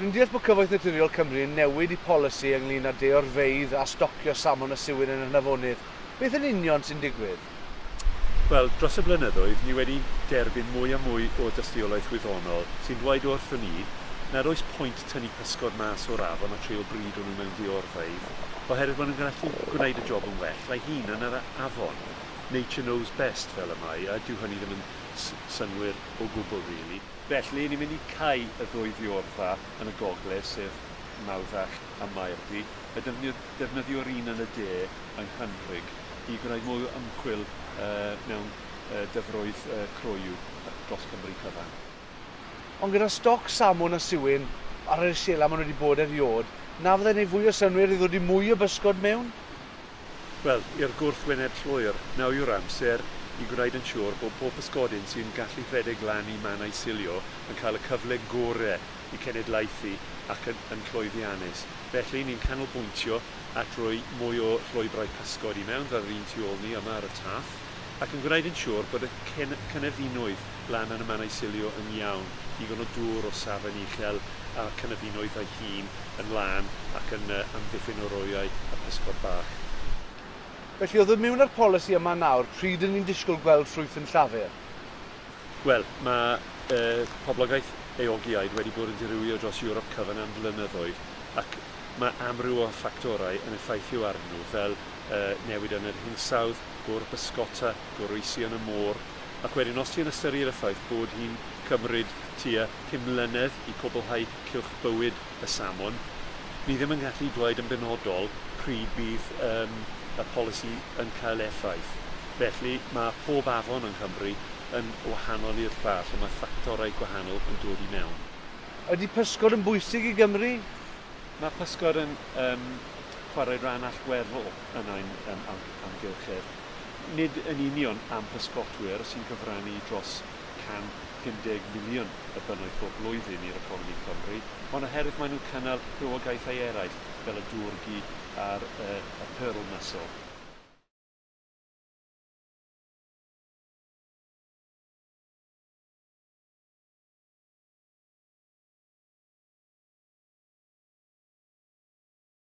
Rwy'n deall bod Cyfoeth Naturiol Cymru yn newid eu polisi ynglŷn â deorfeydd a stocio salmon a siwir yn yr hynafonydd. Beth yn union sy'n digwydd? Wel, dros y blynyddoedd, ni wedi derbyn mwy a mwy o dystiolaeth wyddonol sy'n dweud wrthon ni nad oes pwynt tynnu pysgod mas o'r afon a trio brido nhw mewn deorfeydd, oherwydd maen nhw'n gallu gwneud y job yn well a'u hunain yn yr afon. Nature knows best, fel y mae, a dyw hynny ddim yn synnwyr. o gwbl rili. Felly, ni'n mynd i cau y ddwy fiorfa yn y gogledd, sef Mawddach a Maerddi, a defnyddio'r un yn y de yng Nghanfrig i gwneud mwy o ymchwil mewn dyfroedd croyw dros Cymru cyfan. Ond gyda stoc salmwn a siwyn ar yr iselau maen nhw wedi bod erioed, na fyddai'n gwneud fwy o synnwyr i ddodi mwy o bysgod mewn? Wel, i'r gwrthwyneb llwyr, nawr yw'r amser i gwneud yn siŵr bod pob pysgodyn sy'n gallu rhedeg lan i man a'i silio yn cael y cyfle gorau i cenedlaethu ac yn yn llwyddiannus. Felly, ni'n canolbwyntio at roi mwy o llwybrau pysgod i mewn, fel yr un tu ôl ni yma ar y taff. ac yn gwneud yn siŵr bod y cynefinoedd lan yn y mannau silio yn iawn, digon o dŵr o safon uchel a'r cynefinoedd ei hun yn lân ac yn amddiffyn o roeau a physgod bach. Felly, o ddod mewn â'r polisi yma nawr, pryd ry'n ni'n disgwyl gweld ffrwyth yn Llafur? Wel, mae y poblogaeth eogiaid wedi bod yn dirywio dros Ewrop cyfan am flynyddoedd ac mae amryw o ffactorau yn effeithio arnyn nhw fel newid yn yr hinsawdd, gŵr bysgota, goroesi yn y môr, ac wedyn os ti'n ystyried y ffaith bod hi'n cymryd tua pum mlynedd i cwblhau cylch bywyd y salmon, ni ddim yn gallu dweud yn benodol pryd bydd yym y polisi yn cael effaith. Felly, mae pob afon yng Nghymru yn wahanol i'r llall, a mae ffactorau gwahanol yn dod i mewn. Ydy pysgod yn bwysig i Gymru? Mae pysgod yn yym chwarae rhan allweddol yn ein yym amgylchedd, nid yn union am bysgotwyr sy'n cyfrannu dros 150 miliwn y bunnoedd bob blwyddyn i'r economi Cymru, ond oherwydd maen nhw'n cynnal rhywogaethau eraill fel y dŵr-gu a'r y pearl mussel.